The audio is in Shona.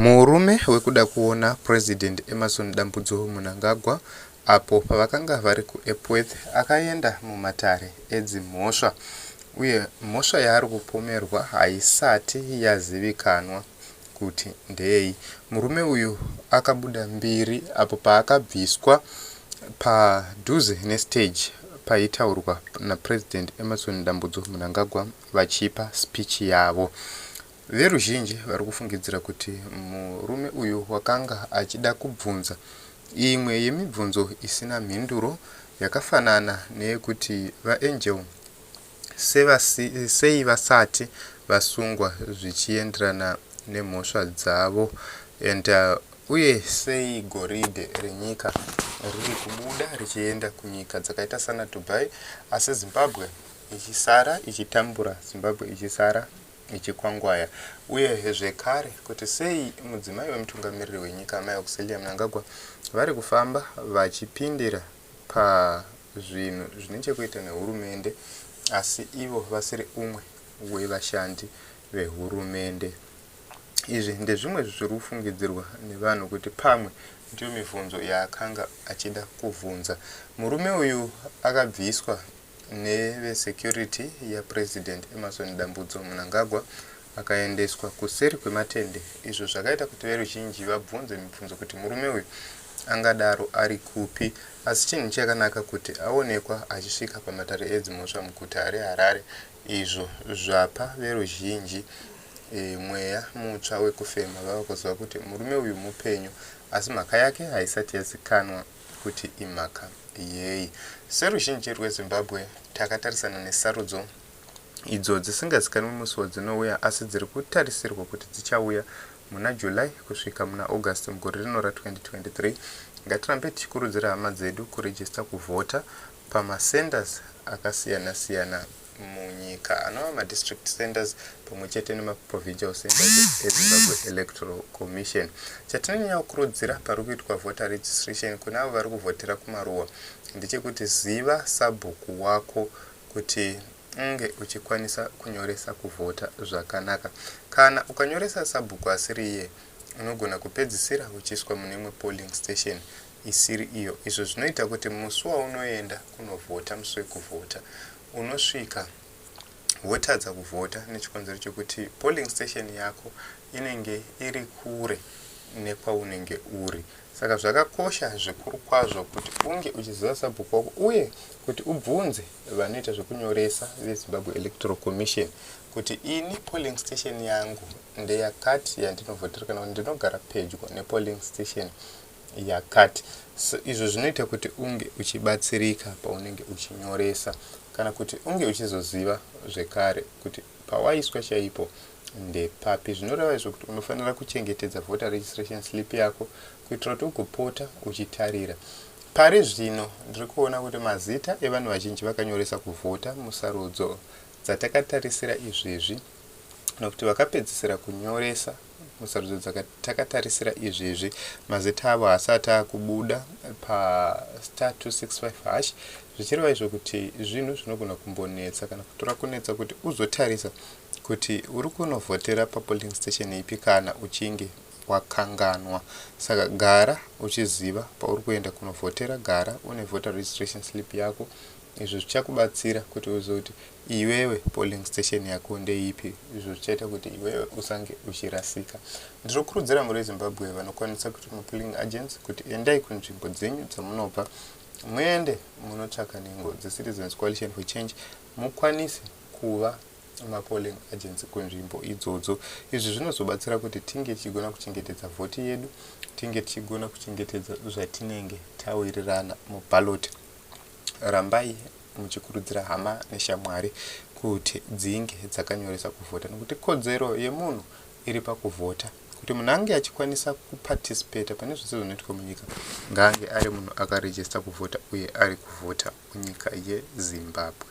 Murume wekuda kuona President Emmerson Dambudzo Mnangagwa apo pavakanga vari kuEpworth akaenda mumatare edzimhosva uye mhosva yaari kupomerwa haisati yazivikanwa kuti ndeyei. Murume uyu akabuda mbiri apo paakabviswa padhuze nestage paitaurwa naPresident Emmerson Dambudzo Mnangagwa vachipa speech yavo. Veruzhinji vari kufungidzira kuti murume uyu wakanga achida kubvunza imwe yemibvunzo isina mhinduro yakafanana neyekuti VaAngel sevasi, sei vasati vasungwa zvichienderana nemhosva dzavo and uh, uye sei goridhe renyika riri kubuda richienda kunyika dzakaita sana Dubai asi Zimbabwe ichisara ichitambura Zimbabwe ichisara nechikwangwaya uyehe zvekare kuti sei mudzimai wemutungamiriri wenyika Amai Auxillia Mnangagwa vari kufamba vachipindira pazvinhu zvine chekuita nehurumende asi ivo vasiri umwe wevashandi vehurumende. Izvi ndezvimwe zviri kufungidzirwa nevanhu kuti pamwe ndiyo mibvunzo yaakanga achida kubvunza murume uyu akabviswa nevesecurity yaPresident Emmerson Dambudzo Mnangagwa akaendeswa kuseri kwematende izvo zvakaita kuti veruzhinji vabvunze mibvunzo kuti murume uyu angadaro ari kupi asi chinhu chakanaka kuti aonekwa achisvika pamatare edzimhosva muguta reHarare izvo zvapa veruzhinji e, mweya mutsva wekufema vava kuziva kuti murume uyu mupenyu asi mhaka yake haisati yazikanwa kuti imhaka yei. Seruzhinji rweZimbabwe, takatarisana nesarudzo idzo dzisingazikanwi musi wadzinouya asi dziri kutarisirwa kuti dzichauya muna July kusvika muna August mugore rino ra 2023. Ngatirambe tichikurudzira hama dzedu kuregister kuvhota pama centres akasiyana siyana. munyika anova madistrict centers pamwe chete nemaprovincial centers ezimbabwe electoral commission chatinonyanya kukurudzira pari kuitwa voter registration kune avo vari kuvhotera kumaruwa ndechekuti ziva sabhuku wako kuti unge uchikwanisa kunyoresa kuvhota zvakanaka kana ukanyoresa sabhuku asiri iye unogona kupedzisira uchiiswa mune imwe polling station isiri iyo izvo zvinoita kuti musi waunoenda kunovhota musi wekuvhota unosvika wotadza kuvhota nechikonzero chekuti polling station yako inenge iri kure nekwaunenge uri saka zvakakosha zvikuru kwazvo kuti unge uchiziva sabhuku wako uye kuti ubvunze vanoita zvekunyoresa vezimbabwe electoral commission kuti ini polling station yangu ndeyakati yandinovhotera kana kuti ndinogara pedyo nepolling station yakati so izvo zvinoita kuti unge uchibatsirika paunenge uchinyoresa kana kuti unge uchizoziva zvekare kuti pawaiswa chaipo ndepapi zvinoreva izvo kuti unofanira kuchengetedza voter registration slip yako kuitira kuti ugopota uchitarira pari zvino ndiri kuona kuti mazita evanhu vazhinji vakanyoresa kuvhota musarudzo dzatakatarisira izvezvi kana kuti vakapedzisira kunyoresa musarudzo dzakati takatarisira izvezvi mazita avo haasati akubuda pastar 265 hash zvichireva izvo kuti zvinhu zvinogona kumbonetsa kana kutora kunetsa kuti uzotarisa kuti uri kunovhotera papolling station ipi kana uchinge wakanganwa saka gara uchiziva pauri kuenda kunovhotera gara une voter registration slip yako izvi zvichakubatsira kuti uzoti Iwewe polling station yako ndeipi izvo zvichaita kuti iwewe usange uchirasika. Ndinokurudzira muri veZimbabwe vanokwanisa kuita mapolling agents kuti endai kunzvimbo dzenyu dzamunobva muende munotsvaka nhengo dzeCitizens Coalition for Change mukwanise kuva mapolling agents kunzvimbo idzodzo. Izvi zvinozobatsira kuti tinge tichigona kuchengetedza vhoti yedu, tinge tichigona kuchengetedza zvatinenge tawirirana muballot. Rambai muchikurudzira hama neshamwari kuti dzinge dzakanyoresa kuvhota nekuti kodzero yemunhu iri pakuvhota. Kuti munhu ange achikwanisa kuparticipata pane zvese zvinoitwa munyika ngaange ari munhu akaregister kuvhota uye ari kuvhota munyika yeZimbabwe.